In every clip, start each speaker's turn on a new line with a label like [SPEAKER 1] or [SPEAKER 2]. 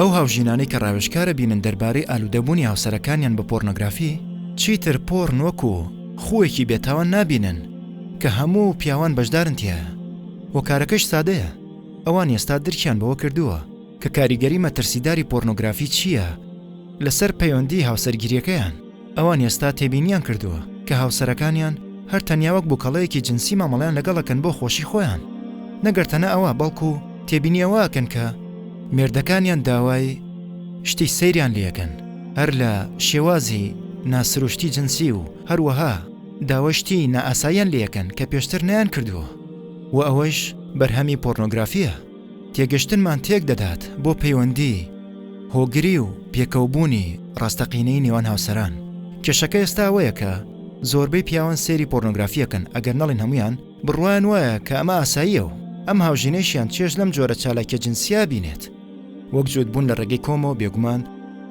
[SPEAKER 1] ئەو هاوژینانەی کە ڕاوێژکارە بینن دەربارەی ئالوودەبوونی هاوسەرەکانیان بە پۆرنۆگرافی چیتر پۆڕن وەک و خویەکی بێتاوان نابینن کە هەموو پیاوان بەشدارن تایە وەکارەکەش سادەیە ئەوان ئێستا درکیان بەوە کردووە کە کاریگەری مەترسیداری پۆرنۆگرافی چییە لەسەر پەیوەندی هاوسەرگیریەکەیان، ئەوان ئێستا تێبینیان کردووە کە هاوسەرەکانیان هەر تەنیا وەک بوکەڵەیەکی جنسی مامەڵەیان لەگەڵ ئەکەن بۆ خۆشی خۆیان نەگەر تەنە ئەوە بەڵکو تێبینی ئەوە ئەکەن کە مێردەکانیان داوای شتی سەیریان لێ ئەکەن هەر لە شێوازی نا سروشتی جنسی و هەروەها داوای شتی نا ئاساییان لێ ئەکەن کە پێشتر نەیان کردووە و ئەوەش بەرهەمی پۆرنۆگرافییە. تێگەشتنمان تێک دەدات بۆ پەیوەندی هۆگری و پێکەوبوونی ڕاستەقینەی نێوان هاوسەران. کێشەکە ئێستا ئەوەیە کە زۆربەی پیاوان سەیری پۆرنۆگرافی ئەکەن، ئەگەر نەڵێین هەموویان، بڕوایان وایە کە ئەمە ئاساییە و ئەم هاوژینەیشیان چێژ لەم جۆرە چالاکیە جنسیە بینێت. وەک جووتبوون لە ڕێگەی کۆمەوە بێگومان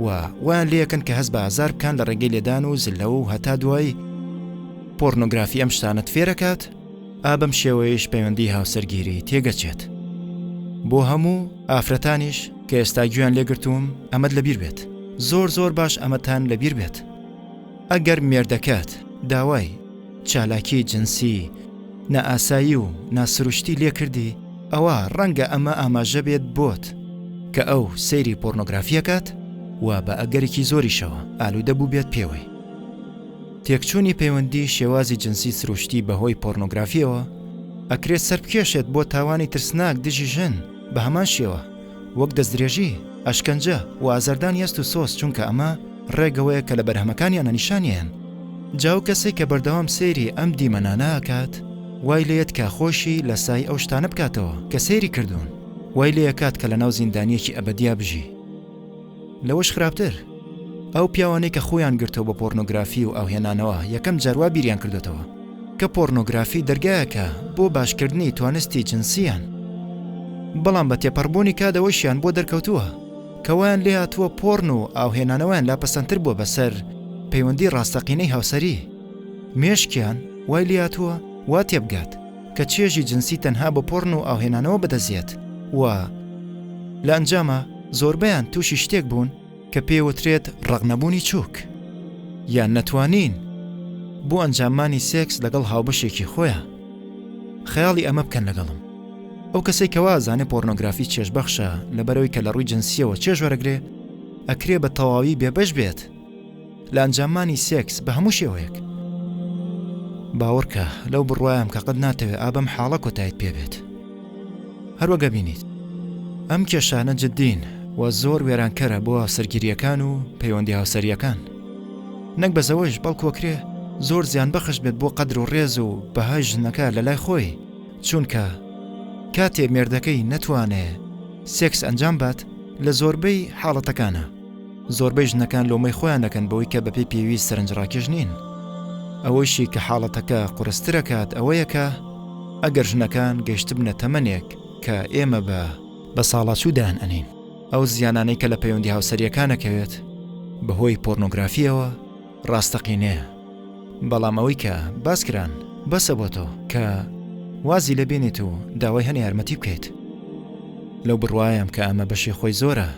[SPEAKER 1] و وایان لێئەکەن کە هەست بە ئازار بکان لە ڕێگەی لێدان و زللەوە و هەتا دوایی. پۆرنۆگرافی ئەم شتانەت فێرەکات. ئا بەم شێوەیەش پەیوەندی هاوسەرگیری تێگەچێت بۆ هەموو ئافرەتانیش کە ئێستا گویان لێگرتووم ئەمەد لەبیر بێت زۆر زۆر باش ئەمەتان لەبیر بێت ئەگەر مێردەکەت داوای چالاکی جنسی نائاسایی و ناسروشتی لێکردی ئەوە ڕەنگە ئەمە ئاماژە بێت بۆت کە ئەو سەیری پۆرنۆگرافیەکات و بە ئەگەرێکی زۆریشەوە ئالوودە بوو بێت پێوەی تێکچوونی پەیوەندی شێوازی جنسی سروشتی بەهۆی پۆرنۆگرافیەوە ئەکرێت سەربکێشێت بۆ تاوانی ترسناک دژی ژن بە هەمان شێوە وەک دەستدرێژی، ئەشکەنجە، و ئازاردانی هەست و سۆز چونکە ئەمە ڕێگەوەیە کە لە بەرهەمەکانیانە نیشانیان جا و کەسێک کە بەردەوام سەیری ئەم دیمەنانە ئەکات وای لێت کە خۆشی لە سای ئەو شتانە بکاتەوە کە سەیری کردوون وای لێ ئەکات کە لەناو زیندانیەکی ئەبەدیا بژی. لەوەش خراپتر ئەو پیاوانەی کە خۆیان گرتەوە بە پۆرنۆگرافی و ئاوهێنانەوە یەکەم جاروا بیریان کردێتەوە کە پۆرنۆگرافی دەرگایەکە بۆ باشکردنی توانستی جنسیان بەڵام بە تێپەڕبوونی کادەوەشیان بۆ دەرکەوتووە کەوایان لێ هاتووە پۆرن و ئاوهێنانەوەیان لا پەسەندتر بووە بەسەر پەیوەندی ڕاستەقینەی هاوسەری مێشکیان وای لاتووە وا تێبگات کە چێژی جنسی تەنها بە پۆڕن و ئاوهێنانەوە بەدەستدێت و لە ئەنجاما زۆربەیان تووشی شتێک بوون کە پێوترێت ڕەقنەبوونی چووک یان نەتوانین بۆ ئەنجاممانی سێکس لەگەڵ هاوبەشێکی خۆیان خەیاڵی ئەمە بکەن لەگەڵم ئەو کەسێک کەوازانێ پۆرنۆگرافی چێژبەخشە لەبەرەوەی کە لە ڕووی جنسیەوە چێژ وەرەگرێ ئەکرێ بە تەواوی بێبەش بێت لە ئەنجاممانی سێکس بە هەموو شێوەیەک باوەڕکە لەو بڕوایم کە قەت ناتەوێت ئابم حاڵە کۆتایت پێبێت هەروەگە بینیت ئەم کێشانە جددین و زۆر وێرانکەرە بۆ هاوسەرگیریەکان و پەیوەندی هاوسەریەکان نەک بەزەوەش بەڵکۆکرێ زۆر زیان بەخش بێت بۆ قەدر و ڕێز و بەهای ژنەکە لە لای خۆی چونکە کاتێ مێردەکەی نەتوانێ سێکس ئەنجام بات لە زۆربەی حاڵەتەکانە زۆربەی ژنەکان لۆمەی خۆیان دەکەن بەوەی کە بەپی پێویست سەرنجڕاکێش نین ئەوەیشی کە حاڵەتەکە قورسترەکات ئەوەیە کە ئەگەر ژنەکان گەشتبنە تەمەنێک کە ئێمە بە بە ساڵاچوو دایان ئەنین ئەو زیانانەی کە لە پەیوەندی هاوسەریەکانەکەوێت بەهۆی پۆرنۆگرافیەوە ڕاستەقینەیە بەڵام ئەوەی کە باس کران بەسە بۆ تۆ کە وازی لە بێنێت و داوای هەنێ یارمەتی بکەیت لەو بڕوایم کە ئەمە بەشی خۆی زۆرە